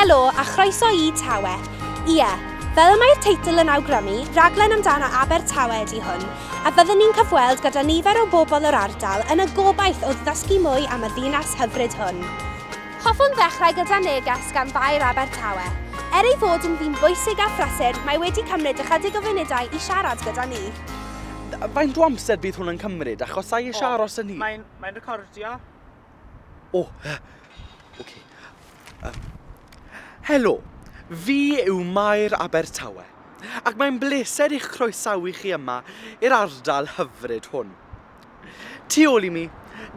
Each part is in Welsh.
Helo a chroeso i Tawe. Ie, fel y mae'r teitl yn awgrymu, raglen amdano Abertawe ydi hwn, a fyddwn ni'n cyfweld gyda nifer o bobl yr ardal yn y gobaith o ddysgu mwy am y ddinas hyfryd hwn. Hoffwn ddechrau gyda neges gan Faer Abertawe. Er ei fod yn ddyn bwysig a phrysur, mae wedi cymryd ychydig o funudau i siarad gyda ni. Yy faint o amser bydd hwn yn cymryd achos sa i isie aros yn hir. Mae'n mae'n recordio. O! Oce. Yym. Helo! Fi yw Mair Abertawe ac mae'n bleser i'ch croesawu chi yma i'r ardal hyfryd hwn. Tu ôl i mi,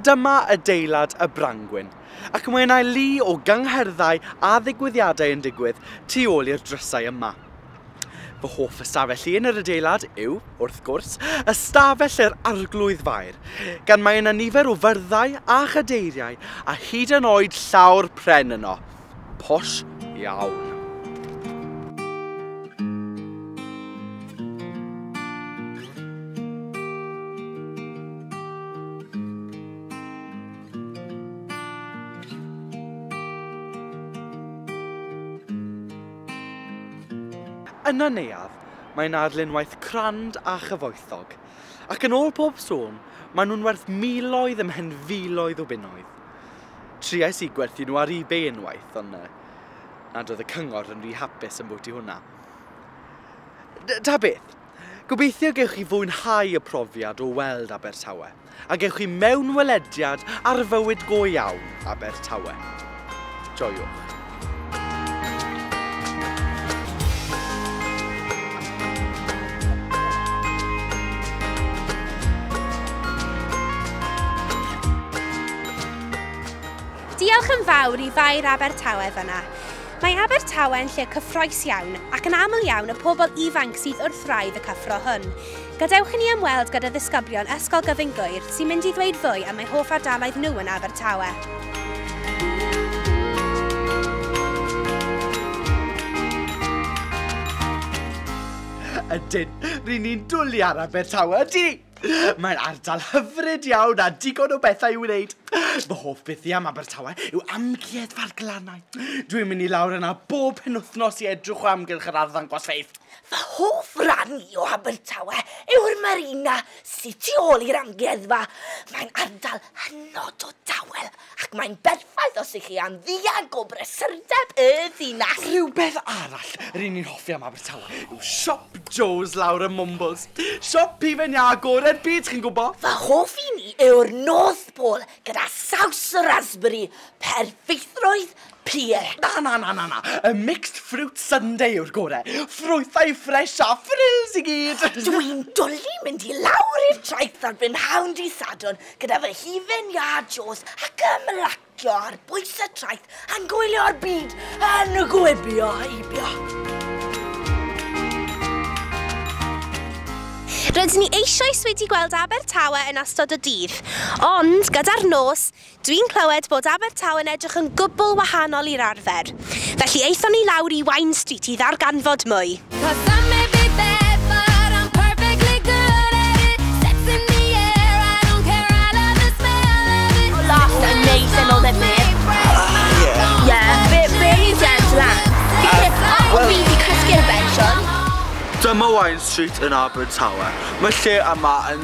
dyma adeilad y Brangwyn, ac mae yna lu o gyngherddau a ddigwyddiadau yn digwydd tu ôl i'r drysau yma. Fy hoff ystafell i yn yr adeilad yw, wrth gwrs, ystafell yr Arglwydd Faer, gan mae yna nifer o fyrddau a chadeiriau a hyd yn oed llawr pren yno. Posh iawn. Yn y neuadd, mae'n arlunwaith crand a chyfoethog, ac yn ôl pob sôn, maen nhw'n werth miloedd ymhen filoedd o bunnoedd. Triais i gwerthu nhw ar eBay unwaith, ond na, nad oedd y cyngor yn rhy hapus yn bwt i hwnna. Ta beth, gobeithio gewch chi fwynhau y profiad o weld Abertawe, a gewch chi mewnwelediad ar fywyd go iawn Abertawe. Joiwch. Diolch yn fawr i Faer Abertawe fyna. Mae Abertawe yn lle cyffroes iawn ac yn aml iawn y pobl ifanc sydd wrth wraidd y cyffro hwn. Gadewch i ni ymweld gyda ddisgyblion Ysgol Gyfun Gŵyr sy'n mynd i ddweud fwy am eu hoff ardaloedd nhw yn Abertawe. Ydyn, ry'n ni'n dwli ar Abertawe, ydi! Mae'n ardal hyfryd iawn a digon o bethau i'w wneud. Fy hoff beth i am Abertawe yw Amgueddfa'r Glannau. Dwi'n mynd i lawr yna bob penwythnos i edrych o amgylch yr arddangosfeydd. Fy hoff ran i o Abertawe yw'r marina sy tu ôl i'r amgueddfa. Mae'n ardal hynod o dawel ac mae'n berffaith os ych chi am ddianc o brysurdeb y ddinas. Rhywbeth arall ry'n ni'n hoffi am Abertawe yw Siop Joe's lawr ym Mwmbwls. Siop hufen iâ gore'r byd, chi'n gwbo? Fy hoff un i yw'r North Pole gyda saws y rasberi, perffeithrwydd Pie! Na, na, na, na, na! Y mixed fruit sundae yw'r gore! Ffrwythau ffresh a frills i gyd! Dw i'n dwli mynd i lawr i'r traeth ar brynhawn dydd Sadwrn gyda fy hufen iâ Joes ac ymlacio ar bwys y traeth a'n gwylio'r byd yn gwibio heibio. Rydyn ni eisoes wedi gweld Abertawe yn ystod y dydd, ond, gyda'r nos, Dwi'n clywed bod Abertawe yn edrych yn gwbl wahanol i'r arfer, felly aethon ni lawr i Wine Street i ddarganfod mwy. Dyma Wine Street yn Abertawe. Mae lle yma yn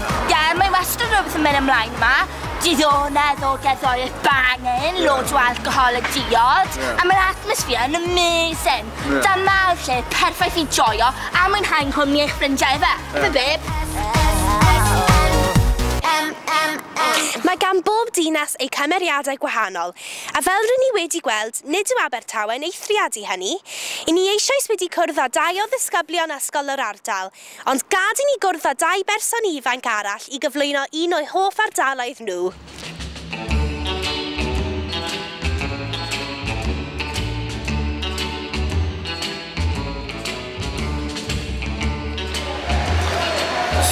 Ie, mae wastad rhywbeth yn mynd ymlaen yma. Diddonedd o gerddoriaeth bangin, loads o alcohol a diod, a mae'r atmosphere yn amazing. Dyma'r lle perffaith i joio a mwynhau yng nghwmni eich ffrindiau ife? Ife babe? Mae gan bob dinas eu cymeriadau gwahanol, a fel rŷn ni wedi gweld, nid yw Abertawe'n eithriad i hynny. Y'n ni eisoes wedi cwrdd â dau o ddisgyblion ysgol yr ardal, Ond gad i ni gwrdd â dau berson ifanc arall i gyflwyno un o'u hoff ardaloedd nhw.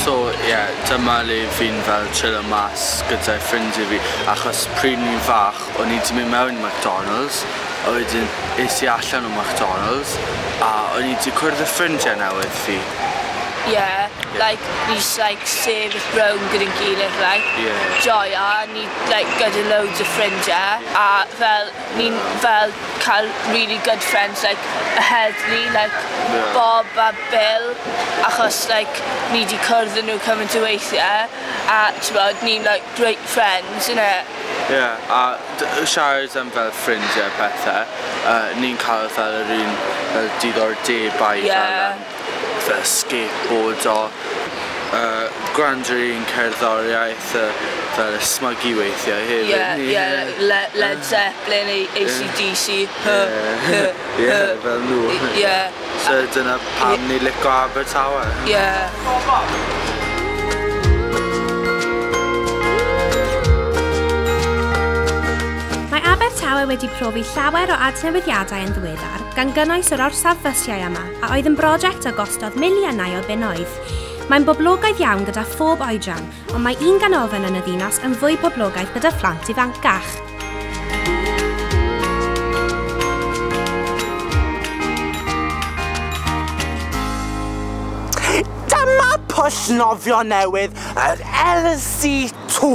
So ie dyma le fi'n fel chillo mas gyda'i ffrindie fi achos pryd o'n i'n fach O'n i 'di mynd mewn i McDonalds a wedyn es i allan o McDonalds a o'n i 'di cwrdd y ffrindiau newydd fi. Ie, like ni jyst like sefyll rownd gyda'n gilydd like... Ie. ...joio a ni like gyda loads o ffrindiau a fel ni'n fel cael rili good friends like y heddlu like... Ie. ...Bob a Bil achos like ni 'di cwrdd â nhw cymaint o weithiau a t'mod ni'n like great friends innit? Ie, a siarad am fel ffrindie a pethe, yy ni'n cael fel yr un fel diddordebau... Ie. ...fel yym fel skateboardo, yy gwrando ar yr un cerddoriaeth yy fel ysmygu weithiau hefyd. Ie ie le- Led Zeppelin, A- AC/DC. Ie ie fel nhw. Ie. So dyna pam ni lico Abertawe. Ie. Mae Abertawe wedi profi llawer o adnewidiadau yn ddiweddar, gan gynnwys yr orsaf fysiau yma, a oedd yn broject a gostodd miliynau o bunnoedd. Mae'n boblogaidd iawn gyda phob oedran, ond mae un ganolfan yn y ddinas yn fwy poblogaidd gyda phlant ifancach. pwll nofio newydd, yr LC2.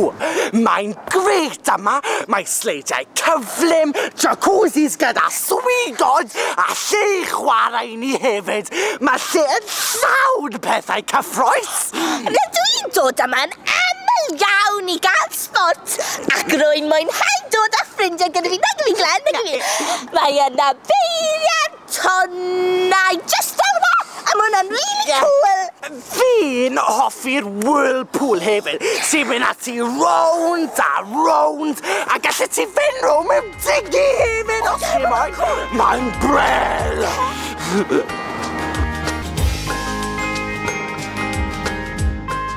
Mae'n greit yma, mae sleidiau cyflym, jacuzzis gyda swigod a lle i chwarae i ni hefyd. Mae lle yn llawn pethau cyffroes. Sport. Rydw i'n dod yma'n aml iawn i gael sport ac rwy'n mwynhau dod â ffrindiau gyda fi, nag yw fi Glenn, nag yw fi? Mae yna beiriant tonnau jyst fel yma a mae hwnna'n really cool. Fi'n hoffi'r whirlpool hefyd, ti'n mynd ati rownd a rownd a gallet ti fynd rownd mewn Ti'n gymryd o ti moyn? Mae'n brel!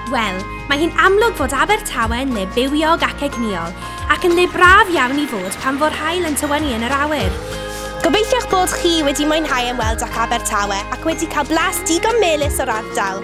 Wel, mae hi'n amlwg fod Abertawe yn le bywiog ac egnïol, ac yn le braf iawn i fod pan fo'r haul yn tywynnu yn yr awyr. Gobeithiwch bod chi wedi mwynhau ymweld â'ch Abertawe ac wedi cael blas digon melys o'r ardal.